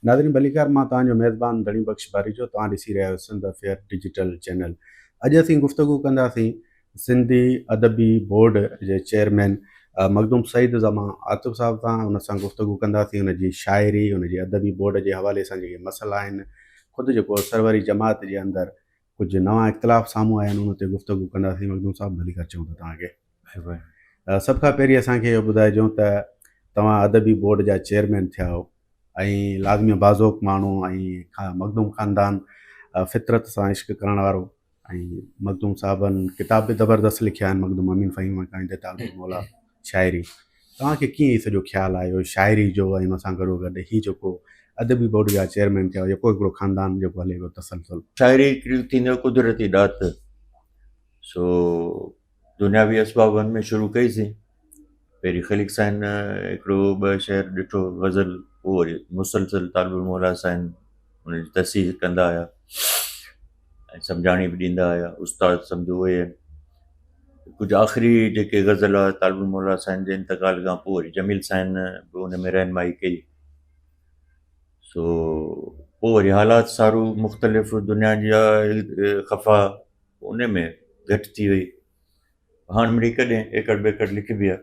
ناظرين ڀليڪار مان توهان جو ميزبان ڌڻي بخش ڀاريجو توهان ڏسي رهيا آهيو سنڌ افيئر ڊجيٽل چينل اڄ اسين گفتگو ڪنداسين سنڌي ادبي بورڊ جي چيئرمين مخدوم سعيد زما عاطف صاحب سان ان سان گفتگو ڪنداسين ان جي شاعري ان جي ادبي بورڊ جي حوالي سان جيڪي مسئلا آهن خود جيڪو سروري جماعت جي اندر ڪجهه نوان اختلاف سامهون آيا آهن ان تي گفتگو ڪنداسين مخدوم صاحب ڀلي ڪر چئون ٿا توهان کي سڀ کان پهرين اسان کي اهو ٻڌائجون ته توهان ادبي بورڊ جا چيئرمين ٿيا آهو ۽ لازمي بازوق ماڻهو ۽ مخدوم خاندان فطرت سان عشق ڪرڻ وارو ۽ مخدوم صاحبن ڪتاب به زبردست لکيا آهن مخدوم امين فهيم مڪاني تي تعلق مولا شاعري توهان کي ڪيئن هي سڄو خيال آيو شاعري جو ۽ ان سان گڏو گڏ هي جيڪو ادبي بورڊ جا چيئرمين ٿيا جيڪو هڪڙو خاندان جيڪو هلي پيو تسلسل. شاعري هڪڙي ٿيندي آهي قدرتي ڏات سو دنياوي اسبابن ۾ شروع ڪئي سي پهرين خليق سائين هڪڙو ٻه شعر ڏٺو غزل پوء وري مسلسل طالب الموليٰ سائين ان جي تصحيح ڪندا آيا ۽ سمجهاڻي به ڏيندا آيا استاد سمجهو اهي آهن ڪجهه آخري جيڪي غزل آهي طالب الموليٰ سائين جي انتقال کان پوء وري جميل سائين به ان ۾ رهنمائي ڪئي سو پوء وري حالات سارو مختلف دنيا جا خفا ان ۾ گهٽ ٿي وئي هاڻ مڙئي ڪڏهن ايڪڙ ٻيڪڙ لکبي آهي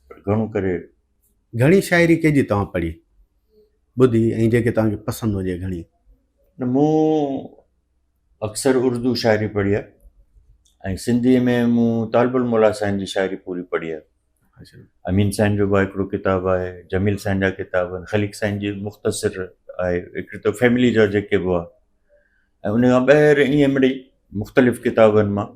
پر گهڻو ڪري گهڻي شاعري ڪنهن جي توهان پڙهي ٻڌي ۽ جيڪي توهان کي پسند هجي گهڻي مون اڪثر اردو شاعري پڙهي آهي ۽ سنڌيء ۾ مون طالب الموليٰ سائين جي شاعري پوري پڙهي آهي امين سائين جو بي هڪڙو ڪتاب آهي جميل سائين جا ڪتاب آهن خليق سائين جي مختصر آهي هڪڙي ته فيملي جا جيڪي به هئا ۽ ان کان ٻاهر ائين مڙئي مختلف ڪتابن مان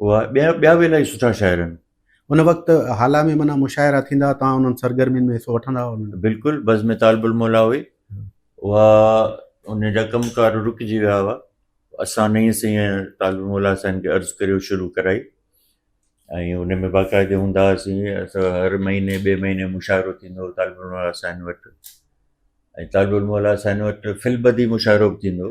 اها ٻيا ٻيا به الاهي سٺا شاعر آهن ان وقت حالا ۾ معنيٰ مشاعرا ٿيندا تان انهن سرگرمين ۾ حصو وٺندا هئا بلڪل بزم طالب الموليٰ هئي اها ان جا ڪم ڪار رڪجي ويا هئا اسان نئين سين طالب الموليٰ سائين کي عرض ڪري شروع ڪرائي ۽ ان ۾ باقاعدي هوندا هئاسين اسان هر مهيني ٻئي مهيني مشاعرو ٿيندو هو طالب الموليٰ سائين وٽ ۽ طالب الموليٰ سائين وٽ فلبدي مشاعرو به ٿيندو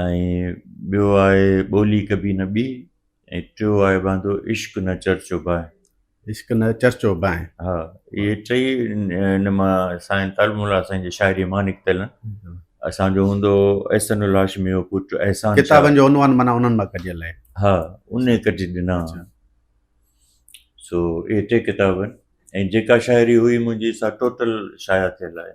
۽ ٻيو آهي ٻولي ڪبي نه ٻي ۽ ٽيو آهي واندو عشق نه چرچو بانء. عشق نه چرچو بانء. ها اهي ٽئي ان مان سائين طالب مولا سائين جي شاعري مان نڪتل آهن. اسان جو هوندو هو احسن الهاشمي جو پٽ احسان شاهه. ڪتابن جو عنوان معنيٰ انهن مان ڪڍيل آهي. ها انهي ڪڍي ڏنا آهن. سو اهي ٽي ڪتاب آهن ۽ جيڪا شاعري هئي منهنجي سا ٽوٽل شايع ٿيل آهي.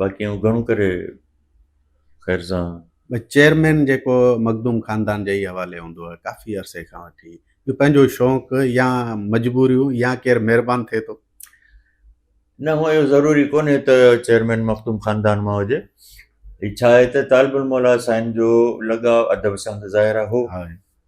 باقي آئون گهڻو ڪري خير سان چيئرمين جيڪو مخدوم خاندان جي ئي حوالي هوندو آهي ڪافي عرصي کان وٺي جو پنهنجو شوق يا مجبوريون يا ڪير مهربان ٿئي ٿو نه هو اهو ضروري ڪونهي ته چيئرمين مخدوم خاندان مان هجي هي ڇا آهي ته طالب الموليٰ سائين جو لڳاء ادب سان ته ظاهر هو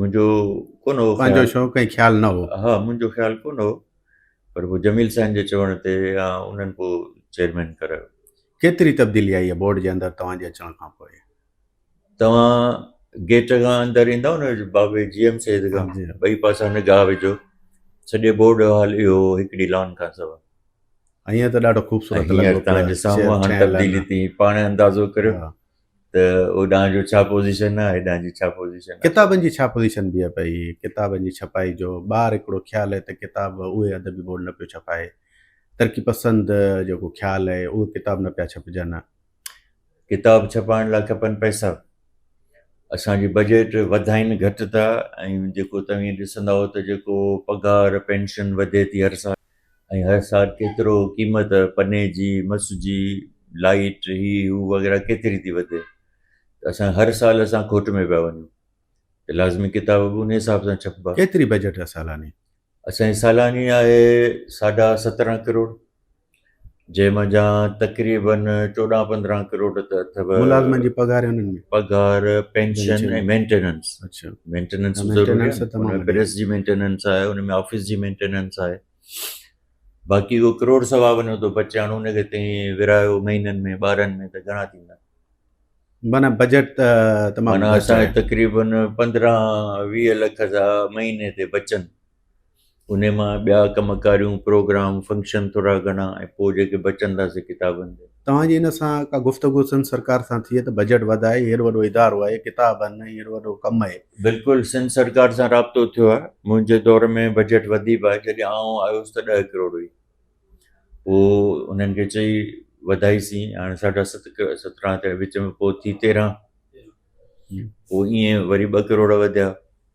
منهنجو ڪونه هو پنهنجو شوق ۽ خيال نه هو ها منهنجو خيال ڪونه هو پر پوء جميل سائين جي چوڻ تي يا انهن پوء چيئرمين ڪرايو ڪيتري تبديلي آئي آهي بورڊ جي اندر توهان جي اچڻ کان پوء توهان گيٽ کان اندر ايندو نه بابي جي ايم سيد کان جي. ٻئي پاسا نگاهه وجھو سڄي بورڊ جو حال اهو هو، هڪڙي لان کان سوا ائين ته ڏاڍو خوبصورت ۽ هينئر لڳو پيو تهان جي سامهون هاڻ ٺهيل تبديلي آهن. تي پاڻ اندازو ڪريو ها. ته هوڏانهن جو ڇا پوزيشن آهي هيڏانهن جي ڇا پوزيشن آهي. ڪتابن جي ڇا پوزيشن بيهي پئي، ڪتابن جي ڇپائي جو ٻار هڪڙو خيال آهي ته ڪتاب اهي ادبي بورڊ نه پيو ڇپائي، ترقي پسند جيڪو خيال آهي اهي ڪتاب نه پيا ڇپجن. ڪتاب ڇپائڻ لاء کپن پئسا، اسان جي بجيٽ وڌائين گهٽ ٿا ۽ جيڪو توهين ڏسندائو ته جيڪو پگهار پينشن وڌي ٿي هر سال، ۽ هر سال ڪيترو قيمت پني جي، مس جي، لائيٽ، هي هو وغيره ڪيتري ٿي وڌي ته اسان هر سال اسان کوٽ ۾ پيا وڃون ته لازمي ڪتاب به ان حساب سان ڇپبا. ڪيتري بجيٽ آهي سالاني؟ اسان جي سالاني آهي ساڍا سترهن ڪروڙ جنهن منجهان تقريبن چوڏهن پندرهن ڪروڙ ته اٿو. ملازمن جي پگهار ۽ انهن ۾. پگهار، پينشن ۽ مينٽيننس. اڇا. مينٽيننس به ضروري مينٽيننس آهي. ته تمام ان ۾ وڏي. پريس جي مينٽيننس آهي، ان ۾ آفيس جي مينٽيننس آهي. باقي اهو ڪروڙ سوا وڃو ته بچي هاڻ ان کي تئين ورهايو مهينن ۾ ٻارهن ۾ ته گهڻا ٿيندا. معنيٰ بجيٽ ته تمام معنيٰ گهٽ اسان آهي. تقريبن پندرهن ويهه لک ته مهيني تي بچن. ان مان ٻيا ڪم ڪاريون پروگرام فنڪشن ٿورا گهڻا ۽ پوء جيڪي بچن ٿا سي ڪتابن جا. توهان جي ان سان ڪا گفتگو سنڌ سرڪار سان ٿئي ته بجيٽ وڌائي هيڏو وڏو ادارو آهي ڪتاب آهن ۽ هيڏو وڏو ڪم آهي. بلڪل سنڌ سرڪار سان رابطو ٿيو آهي منهنجي دور ۾ بجيٽ وڌي به آهي جڏهن آئون آيس ته ڏهه ڪروڙ هئي پوء انهن کي چئي وڌائي سين هاڻي ساڍا ست سترهن ٿيا وچ ۾ پوء ٿي تيرهن پوء ايئن وري ٻه ڪروڙ وڌيا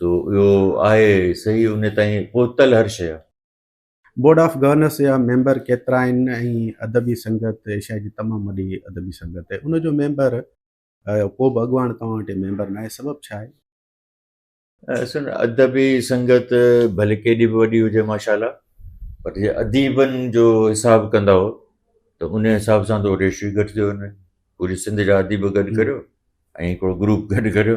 سو اهو آهي صحيح ان تائين پهتل هر شيء. بورڊ آف گورنرس جا ميمبر ڪيترا آهن ۽ ادبي سنگت ايشيا جي تمام وڏي ادبي سنگت آهي ان جو ميمبر ڪو به اڳواڻ توهان وٽ ميمبر ناهي سبب ڇا آهي؟ اصل ادبي سنگت ڀلي ڪيڏي به وڏي هجي ماشاءالله پر جي اديبن جو حساب ڪندا هو ته ان حساب سان تو ريشو گهٽ ٿيو وڃي پوري سنڌ جا اديب گڏ ڪريو ۽ هڪڙو گروپ گڏ ڪريو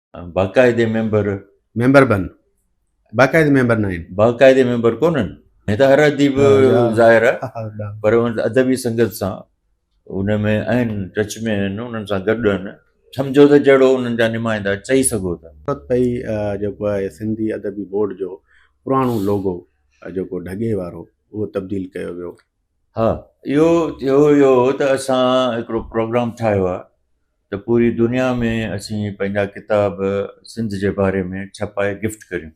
باقاعدي ميمبر ميمبر بن باقاعدي ميمبر ناهن باقاعدي ميمبر ڪونهن هي ته هر اديب ظاهر آهي پر ادبي سنگت سان ان ۾ آهن ٽچ ۾ آهن انهن سان گڏ آهن سمجھو ته جهڙو انهن جا نمائندا چئي سگھو ٿا پئي جيڪو آهي سنڌي ادبي بورڊ جو پراڻو لوگو جيڪو ڍڳي وارو اهو تبديل ڪيو ويو ها اهو ٿيو ويو ته اسان هڪڙو پروگرام ٺاهيو آهي ته پوري دنيا ۾ اسين پنهنجا ڪتاب سنڌ جي باري ۾ ڇپائي گفٽ ڪريون.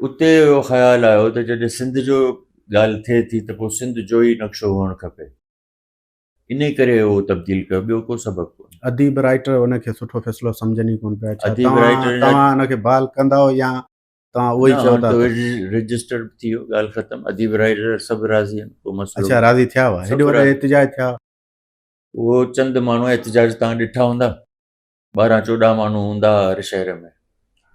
اتي اهو خيال آيو ته جڏهن سنڌ جو ڳالهه ٿئي ٿي ته پوء سنڌ جوئي نقشو هئڻ کپي. انهي ڪري اهو تبديل ڪيو ٻيو ڪو سبب ڪونهي. اديب رائيٽر ان کي سٺو فيصلو سمجهن ئي ڪونه پيا. ڇا توهان ان کي بحال ڪندؤ يا توهان اهو ئي چئو ٿا ته. رجسٽر به ٿي ويو ڳالهه ختم اديب رائيٽر سڀ راضي آهن ڪو مسئلو. اڇا راضي ٿيا هئا هيڏي وڏي احتجاج ٿيا. اهو چند ماڻهو احتجاج توهان ڏٺا هوندا ٻارهن چوڏهن ماڻهو هوندا هئا هر شهر ۾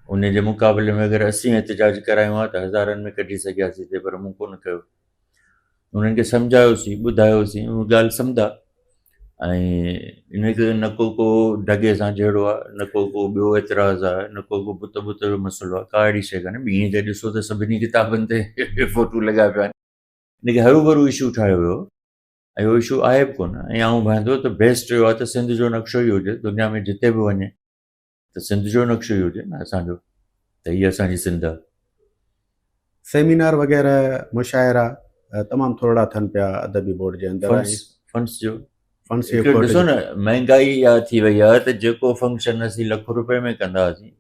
ان جي مقابلي ۾ اگر اسين احتجاج ڪرايون ها ته هزارن ۾ ڪڍي سگهياسين سي پر مون ڪو نه ڪيو انهن کي سمجهايوسين ٻڌايوسين اهو ڳالهه سمدا ۽ ان کي نه ڪو ڪو ڍڳي سان جهيڙو آهي نه ڪو ڪو ٻيو اعتراض آهي نه ڪو ڪو بت بت جو مسئلو آهي ڪا اهڙي شي ڪانهي ٻيڻي تي ڏسو ته سڀني ڪتابن تي فوٽو لڳا پيا آهن ان کي هرو برو اشو ٺاهيو ويو ۽ اهو اشو آهي به ڪونه ۽ آئون ڀائندو ته بيسٽ اهو آهي ته سنڌ جو نقشو ئي هجي دنيا ۾ جتي به وڃي ته سنڌ جو نقشو ئي هجي نه اسانجو ته هي اسانجي سنڌ آهي. سيمينار وغيره مشاعرا تمام ٿورڙا ٿن پيا ادبي بورڊ جي اندر ۽ فنس جو فنس جي ڏسو نه مهنگائي اها ٿي وئي آهي ته جيڪو فنڪشن اسين لک روپئي ۾ ڪندا هئاسين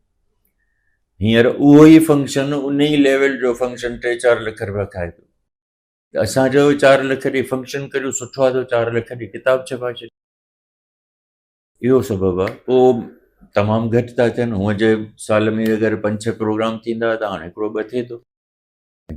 هينئر اهو ئي فنڪشن ان ئي ليول جو فنڪشن ٽي چار لک روپيا کائي ٿو اسان چيو چار لک ڏي فنڪشن ڪريو سٺو آ ته چار لک ڏي ڪتاب ڇپائي ڇڏ اهو سبب آ پو تمام گهٽ ٿا ٿين هونء جي سال ۾ اگر پنج ڇهه پروگرام ٿيندا ته هاڻي هڪڙو ٻه ٿئي ٿو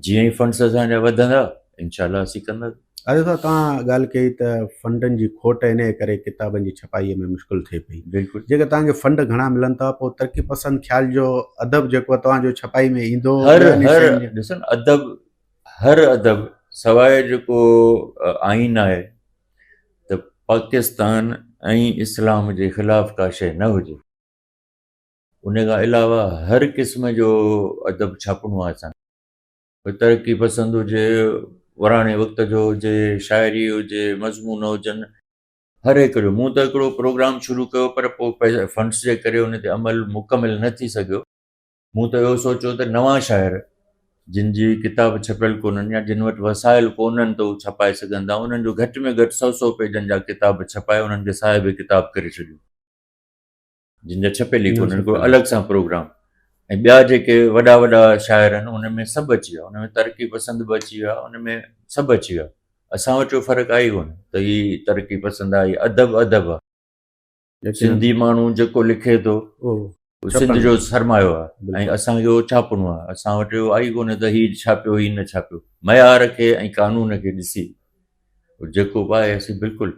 جيئن ئي فنڊس اسان جا وڌندا انشاء الله اسين ڪندا اڄ صاحب توهان ڳالهه ڪئي ته فنڊن جي کوٽ انهيء ڪري ڪتابن جي ڇپائيء ۾ مشڪل ٿئي پئي بلڪل جيڪر توهان کي فنڊ گهڻا ملن ٿا پوء ترقي پسند خيال جو ادب جيڪو توهان جو ڇپائي ۾ ايندو هر هر ڏسن ادب هر ادب سواء جيڪو آئين آهي ته پاڪستان ۽ اسلام جي خلاف ڪا شيء نه هجي ان کان علاوه هر قسم جو ادب ڇاپڻو آهي اسان کي ترقي پسند هجي وراڻي وقت جو هجي شاعري هجي مضمون هجن هر هڪ جو مون ته هڪڙو پروگرام شروع ڪيو پر پوء فنڊس جي ڪري ان تي عمل مڪمل نه ٿي سگهيو مون ته اهو سوچيو ته نوان شاعر جن جي ڪتاب ڇپيل ڪونهن يا جن وٽ وسائل ڪونهن ته هو ڇپائي سگهندا، انهن جو گهٽ ۾ گهٽ سؤ سؤ پيجن جا ڪتاب ڇپائي انهن کي صاحب ڪتاب ڪري ڇڏيون. جن جا ڇپيل ئي ڪونهن ڪو الڳ سان پروگرام ۽ ٻيا جيڪي وڏا وڏا شاعر آهن انهن ۾ سڀ اچي ويا، انهن ۾ ترقي پسند به اچي ويا، انهن ۾ سڀ اچي ويا، اسان وٽ اهو فرق آهي ئي ڪونه ته هي ترقي پسند آهي ادب ادب آهي. سنڌي ماڻهو جيڪو لکي ٿو سنڌ جو سرمايو آهي ۽ اسانکي اهو ڇاپڻو آهي اسان وٽ اهو آئي ڪونهي ته هي ڇاپيو هي نه ڇاپيو معيار کي ۽ قانون کي ڏسي جيڪو به آهي اسين بلڪل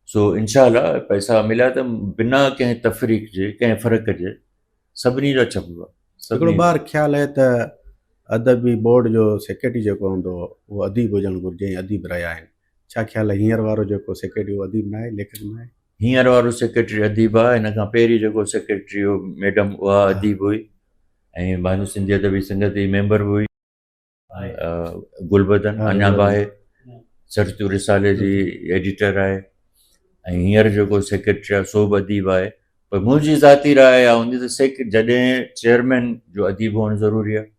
سو انشاء الله پئسا مليا ته بنا ڪنهن تفريق جي ڪنهن فرق جي سڀني جا ڇپبا سڀني بار خيال آهي ته ادبي بورڊ جو سيڪريٽري جيڪو هوندو اهو اديب هجڻ گهرجي اديب رهيا آهن ڇا خيال آهي هينئر وارو جيڪو سيڪريٽري اهو اديب نه آهي ليکڪ نه آهي هينئر وارو سيڪريٽري اديب آهي هن کان پهرين جيڪو سيڪريٽري هو ميڊم اها اديب هئي ۽ بانو سنڌي ادبي سنگت جي ميمبر به هئي گلبدن اڃا به آهي سرچو رسالي جي ايڊيٽر آهي ۽ هينئر جيڪو سيڪريٽري آهي سو به اديب آهي پر منهنجي ذاتي راء اها هوندي ته سيڪ جڏهن چيئرمين جو اديب هئڻ ضروري آهي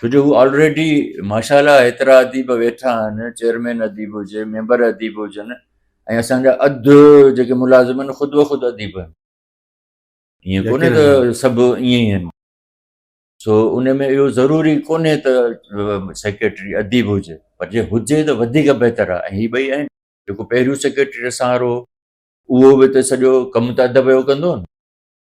ڇو جو هو آلريڊي ماشاء الله ايترا اديب ويٺا آهن چيئرمين اديب هجي ميمبر اديب هجن ۽ اسان جا اڌ جيڪي ملازم آهن خود بخود اديب آهن ائين ڪونهي ته سڀ ائين ئي آهن سو ان ۾ اهو ضروري ڪونهي ته سيڪريٽري اديب هجي پر جي هجي ته وڌيڪ بهتر آهي ۽ هي ٻئي آهن جيڪو پهريون سيڪريٽري سهارو اهو به ته سڄو ڪم ته ادب جو ڪندو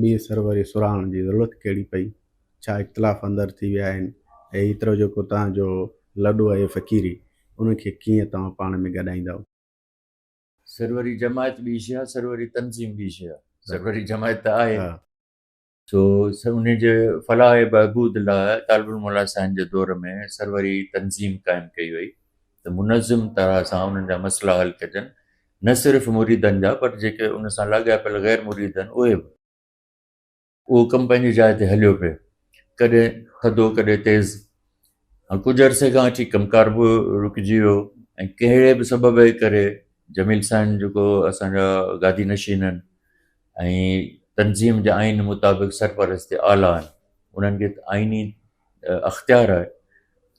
ٻي سروري سرهاڻ جي ضرورت ڪهڙي پئي؟ ڇا اختلاف اندر ٿي ويا آهن؟ ايترو جيڪو توهان جو لڏو اهي فقيري، ان کي ڪيئن توهان پاڻ ۾ ڳڏائيندؤ؟ سروري جماعت ٻي شيء آهي، سروري تنظيم ٻي شيء آهي. سروري جماعت ته آهي. سو انهي جي فلاح ۽ بهبود لاء طالب علم مولان سائين جي دور ۾ سروري تنظيم قائم ڪئي وئي ته منظم طرح سان انهن جا مسئلا حل ڪجن نه صرف مريدن جا پر جيڪي ان سان لاڳاپيل غير مريد آهن اهي به. اهو ڪم پنهنجي جاء تي هليو پئي. ڪڏهن ٿڌو ڪڏهن تيز. ڪجهه عرصي کان اچي ڪم ڪار به رڪجي ويو ۽ ڪهڙي به سبب جي ڪري جميل سائين جيڪو اسان جا گادي نشين آهن ۽ تنظيم جي آئين مطابق سرپرست اعليٰ آهن انهن کي آئيني اختيار آهي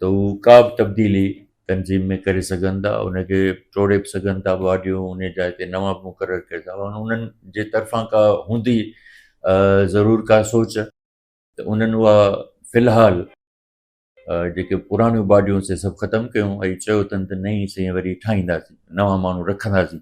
ته هو ڪا به تبديلي تنظيم ۾ ڪري سگهن ٿا ان کي ٽوڙي به سگهن ٿا باڊيون ان جي جاء تي نوان به مقرر ڪري سگهن ٿا انهن جي طرفان ڪا هوندي ضرور ڪا سوچ ته انهن اها في الحال جيڪي پراڻيون باڊيون سي سڀ ختم ڪيون ۽ چيو اٿن ته نئين سين وري ٺاهينداسين نوان ماڻهو رکنداسين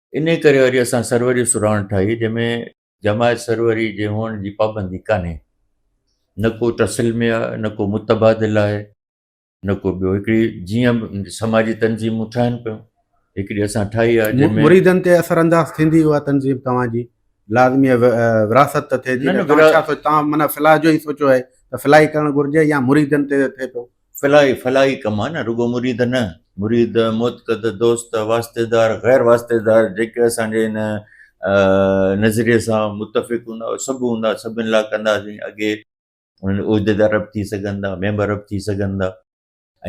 انهيء ڪري وري اسان سروري سرهاڻ ٺاهي، جنهن ۾ جماعت سروري جي هئڻ جي پابندي ڪانهي. نه ڪو تسلمي آهي، نه ڪو متبادل آهي، نه ڪو ٻيو. هڪڙي جيئن به سماجي تنظيمون ٺهن پيون، هڪڙي اسان ٺاهي آهي، جنهن ۾. مريدن تي اثر انداز ٿيندي اها تنظيم توهان جي لازميء ورهاست ته ٿئي ٿي نه؟ توهان ڇا سوچيو؟ توهان معنيٰ فلاح جو ئي سوچيو آهي ته فلاح ئي ڪرڻ گهرجي يا مريدن تي ٿئي پيو؟ فلاحي، فلاحي ڪم آهي نه رڳو مريد نه، مريد، معتقد، دوست، واسطيدار، غير واسطيدار جيڪي اسان جي ان نظريي سان متفق هوندا اهي سڀ هوندا سڀن لاء ڪنداسين اڳي انهن جي عهديدار به ٿي سگهن ٿا ميمبر به ٿي سگهن ٿا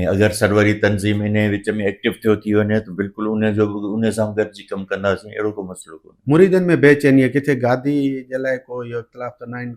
۽ اگر سروري تنظيم انهن جي وچ ۾ ايڪٽو ٿيو ٿي وڃي ته بلڪل ان جو به انهن سان به گڏجي ڪم ڪنداسين اهڙو ڪو مسئلو ڪونهي. مريدن ۾ بي چيني ڪٿي گادي جي لاء ڪو اهو اختلاف ته ناهن.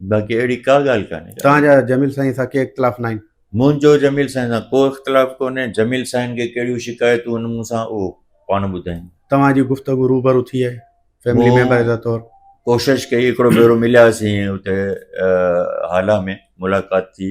باقي اهڙي ڪا ڳالهه ڪانهي. توهان جا جميل سائين سان ڪي اختلاف ناهن؟ منهنجو جميل سائين سان ڪو اختلاف ڪونهي، جميل سائين کي ڪهڙيون شڪايتون آهن مون سان اهو پاڻ ٻڌائين. توهان جي گفتگو روبرو ٿي آهي فيملي ميمبر جا طور؟ ڪوشش ڪئي هڪڙو ڀيرو ملياسين اتي هالا ۾ ملاقات ٿي.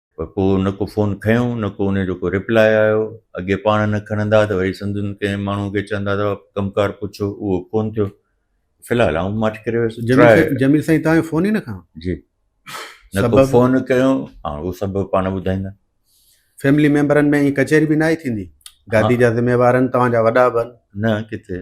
پر ڪو نه ڪو فون کنيو نه ڪو انهيء جو ڪو ريپلاء آيو. اڳي پاڻ نه کڻندا ته وري سندن ڪنهن ماڻهوء کي چوندا ته ڪم ڪار پڇو، اهو ڪونه ٿيو. في الحال آئون ماٺ ڪري ويس. جميل سائين توهان جو فون ئي نه کنيو؟ جي نه ڪو فون ڪيو. هاڻ اهو سبب پاڻ ٻڌائيندا. فيملي ميمبرن ۾ ائين ڪچهري به ناهي ٿيندي. گادي جا ذميوارن توهان جا وڏا به آهن. نه ڪٿي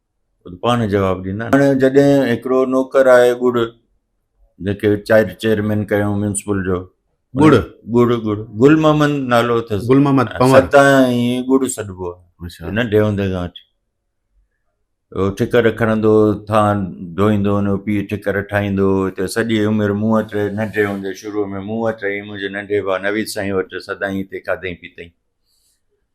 پاڻ جواب ڏيندا. هاڻي جڏهن هڪڙو نوڪر آهي ڳڙ جيڪي چائر چيئرمين ڪيو ميونسپل جو ڳڙ ڳڙ ڳڙ گل محمد نالو اٿس گل محمد پنور ستا ائين ڳڙ سڏبو آهي ننڍي هوندي کان وٺي ٺڪر کڻندو ٿا ڌوئيندو ان جو پيء ٺڪر ٺاهيندو هتي سڄي عمر مون وٽ ننڍي هوندي شروع ۾ مون وٽ رهي منهنجي ننڍي ڀاء نويد سائين وٽ سدائين هتي کاڌئين پيتئين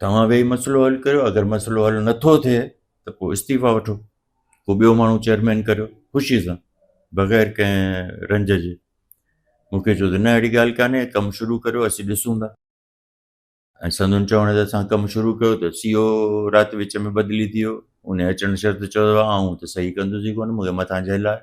توهان ويهي مسئلو حل ڪريو اگر مسئلو حل نٿو ٿئي ته پوء استعيفا وٺو ڪو ٻيو ماڻهو چيئرمين ڪريو خوشي سان بغير ڪنهن رنج جي مون کي چيو ته نه اهڙي ڳالهه ڪانهي ڪم شروع ڪريو اسين ڏسون ٿا ۽ سندن چوڻ تي اسان ڪم شروع ڪيو ته سي او رات وچ ۾ بدلي ٿي ويو ان اچڻ شرط چيو آئون ته صحيح ڪندس ئي ڪونه مون کي مٿان جهل آهي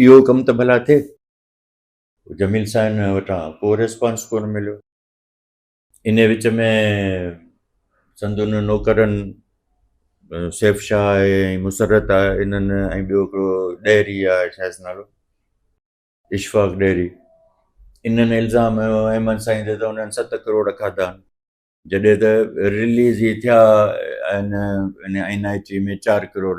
اهو ڪم ته ڀلا ٿئي. جميل سائين وٽان ڪو ريسپانس ڪونه مليو. انهيء وچ ۾ سندن نوڪرن سيف شاهه آهي ۽ مسرت آهي انهن ۽ ٻيو هڪڙو ڏهري آهي شايد نالو اشفاق ڏهري انهن الزام هنيو احمد سائين تي ته انهن ست ڪروڙ کاڌا آهن جڏهن ته رليز ئي ٿيا آهن ان آئين آئي ٽي ۾ چار ڪروڙ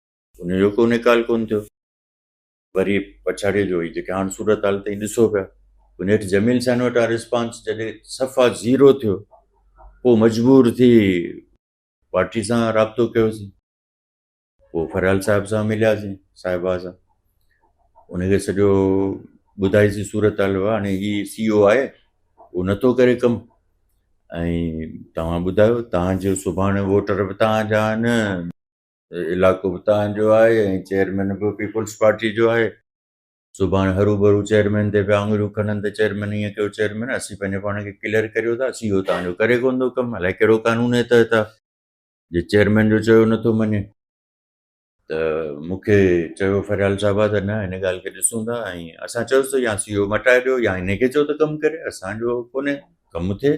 ان جو ڪو نيڪال ڪونه ٿيو. وري پڇاڙيء جو هي جيڪي هاڻ صورت حال تئين ڏسو پيا، ان هيٺ جميل سائين وٽان ريسپانس جڏهن صفا زيرو ٿيو، پوء مجبور ٿي پارٽي سان رابطو ڪيوسين. پوء فريال صاحب سان ملياسين، صاحبه سان. ان کي سڄو ٻڌائيسين صورت حال هئا هاڻي هي سي او آهي، هو نه ٿو ڪري ڪم ۽ توهان ٻڌايو توهان جو سڀاڻي ووٽر به توهان جا آهن، علائقو به تهان جو آهي ۽ چيئرمين به پيپلز پارٽي جو آهي سڀاڻ هرو ڀرو چيئرمين تي پيا آڱريون کڻن ته چيئرمين ائين ڪيو چيئرمين اسين پنهنجو پاڻ کي ڪليئر ڪريو ٿا سي او تهان جو ڪري ڪونه ٿو ڪم الائي ڪهڙو قانون جي تحت آهي جي چيئرمين جو چيو نٿو مڃي ته مون کي چيو فريال صاحب ته نه هن ڳالهه کي ڏسون ٿا ۽ اسان چيوسي ته يا سي او مٽائي ڏيو يا هن کي چيو ته ڪم ڪري اسانجو ڪونهي ڪم ٿئي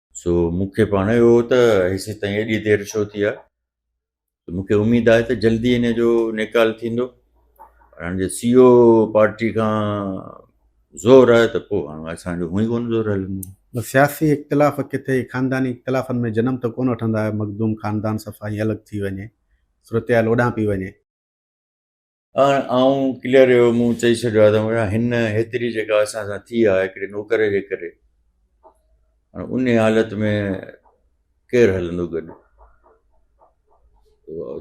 سو مون کي پاڻ اهو ته هيسي تائين ايڏي دير ڇو ٿي آهي مون کي اميد آهي ته جلدي ان جو نيڪال ٿيندو هاڻي جي سي او پارٽي کان زور آهي ته پوء هاڻي اسانجو هونئي ڪونه زور هلندو سياسي اختلاف ڪٿي خانداني اختلافن ۾ جنم ته ڪونه وٺندا آهيو مخدوم خاندان صفا ائين الڳ ٿي وڃي صورتحال اوڏانهن پئي وڃي. هاڻ آئون ڪليئر اهو مون چئي ڇڏيو آهي ته مڙا هن هيتري جيڪا اسان سان ٿي آهي هڪڙي نوڪر جي ڪري هاڻ ان حالت ۾ ڪير هلندو گڏ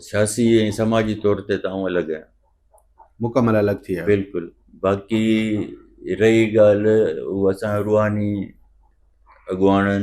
سياسي ۽ سماجي طور تي ته آئون الڳ آهيان مڪمل الڳ ٿي ويا بلڪل باقي رهي ڳالهه هو اسان روحاني اڳواڻن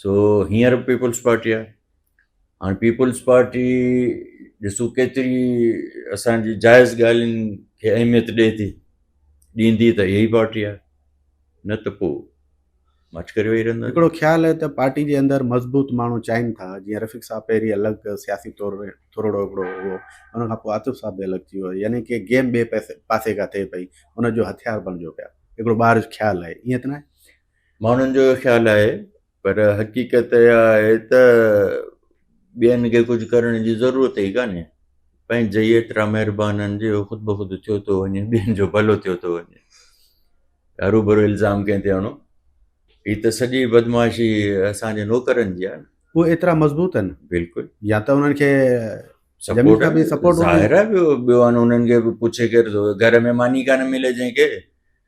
سو هينئر به پيپلز پارٽي آهي هاڻي پيپلز پارٽي ڏسو ڪيتري اسانجي جائز ڳالهين کي اهميت ڏئي ٿي ڏيندي ته ائي پارٽي آهي نه ته پوء مڇ ڪري ويهي رهندو هڪڙو خيال آهي ته پارٽي جي اندر مضبوط ماڻهو چاهين ٿا جيئن رفيق صاحب پهرين الڳ سياسي طور ٿورڙو هڪڙو هو ان کان پوء عاطف صاحب به الڳ ٿي ويو يعني ڪي گيم ٻئي پاسي کان ٿئي پئي ان جو هٿيار بڻجو پيا هڪڙو ٻاهر جو خيال آهي ائين ته نه آهي ماڻهن جو اهو خيال آهي پر حقيقت اها آهي ته ٻين کي ڪجهه ڪرڻ جي ضرورت ئي ڪانهي پنهنجي جي ايترا مهربان آهن جو خود بخود ٿيو ٿو وڃي ٻين جو ڀلو ٿيو ٿو وڃي روبرو الزام ڪنهن تي آڻو هي ته سڄي بدمعاشي اسانجي نوڪرن جي آهي نه هو ايترا مضبوط آهن بلڪل يا ته انهن کي سپورٽ به سپورٽ ظاهر آهي ٻيو آهن انهن کي به پڇي ڪير ٿو گهر ۾ ماني ڪانه ملي جنهن کي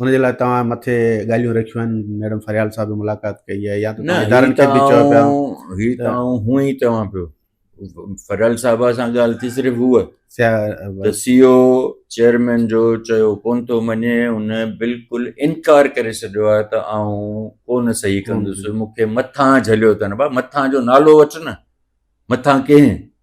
ان جي لاء توهان مٿي ڳالهيون رکيون آهن ميڊم فريال صاحب به ملاقات ڪئي آهي يا ته ادارن کي به چيو پيا هي ته هون ئي چوان پيو فريال صاحب سان ڳالهه ٿي صرف هو ته سي او چيئرمين جو چيو ڪون ٿو مڃي ان بلڪل انڪار ڪري ڇڏيو آهي ته آئون ڪون صحيح ڪندس مون کي مٿان جهليو اٿن ڀا مٿان جو نالو وٺ نه مٿان ڪنهن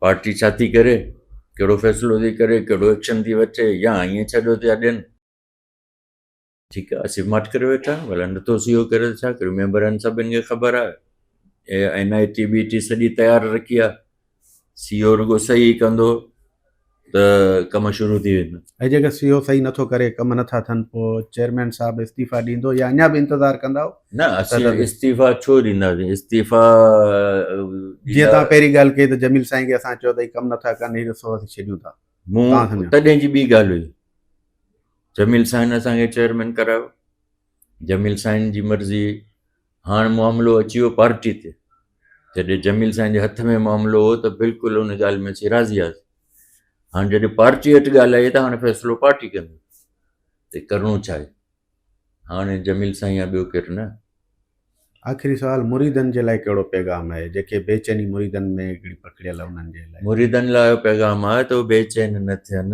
پارٽي ڇا ٿي ڪري ڪهڙو فيصلو ٿي ڪري ڪهڙو ايڪشن ٿي وٺي يا ائين ڇڏيو ٿي اڏين ٺيڪ آهي اسي ماٺ ڪري ويٺا آهيون ڀلا نٿو سي او ڪري ته ڇا ڪري ميمبر آهن سڀني کي خبر آهي اي اين آئي ٽي بي ٽي سڄي تيار رکي آهي سي او رڳو صحيح ڪندو ته ڪم شروع ٿي ويندا. ۽ جيڪر سي او صحيح نٿو ڪري ڪم نٿا ٿين پوء چيئرمين صاحب استعيفا ڏيندو يا اڃا به انتظار ڪندائو؟ نه اسين استعيفا ڇو ڏينداسين استعيفا جيئن تان پهرين ڳالهه ڪئي ته جميل سائين کي اسان چيو ته هي ڪم نٿا ڪن هي رستو اسين ڇڏيون ٿا مون تڏهن جي ٻي ڳالهه هئي جميل سائين اسان کي چيئرمين ڪرايو جميل سائين جي مرضي هاڻ معاملو اچي ويو پارٽي تي، جڏهن جميل سائين جي هٿ ۾ معاملو هو ته بلڪل ان ڳالهه ۾ اسين راضي هئاسين، هاڻ جڏهن پارٽي هيٺ ڳالهه آئي ته هاڻ فيصلو پارٽي ڪندي ته ڪرڻو ڇا آهي، هاڻ جميل سائين يا ٻيو ڪير نه. آخري سوال مريدن جي لاء ڪهڙو پيغام آهي، جيڪي بي چيني مريدن ۾ هڪڙي پکڙيل آهي انهن جي لاء. مريدن لاء اهو پيغام آهي ته هو بي چين نه ٿين،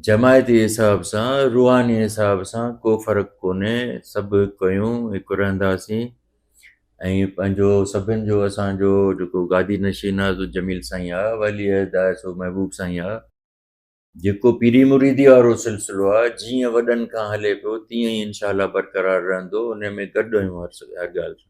جماعتي حساب سان روحاني حساب سان ڪو فرق ڪونهي سڀ هڪ آهيون هڪ رهنداسين ۽ پنهنجو سڀن جو اسانجو جيڪو گادي نشين آهي سو جميل سائين آهي ولي عهد آهي سو محبوب سائين آهي جيڪو پيري مريدي وارو سلسلو آهي جيئن وڏن کان هلي پيو تيئن ئي انشاء الله برقرار رهندو ان ۾ گڏ آهيون هر ڳالهه سان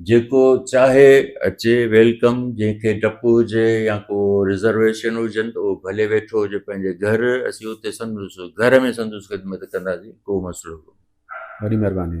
جيڪو چاهي اچي ويلڪم جنهن کي ڊپ هجي يا ڪو رزرويشن هجن ته اهو ڀلي ويٺو هجي پنهنجي گهر اسين اتي سندس گهر ۾ سندس خدمت ڪنداسين ڪو مسئلو ڪونهي. وڏي مھرباني.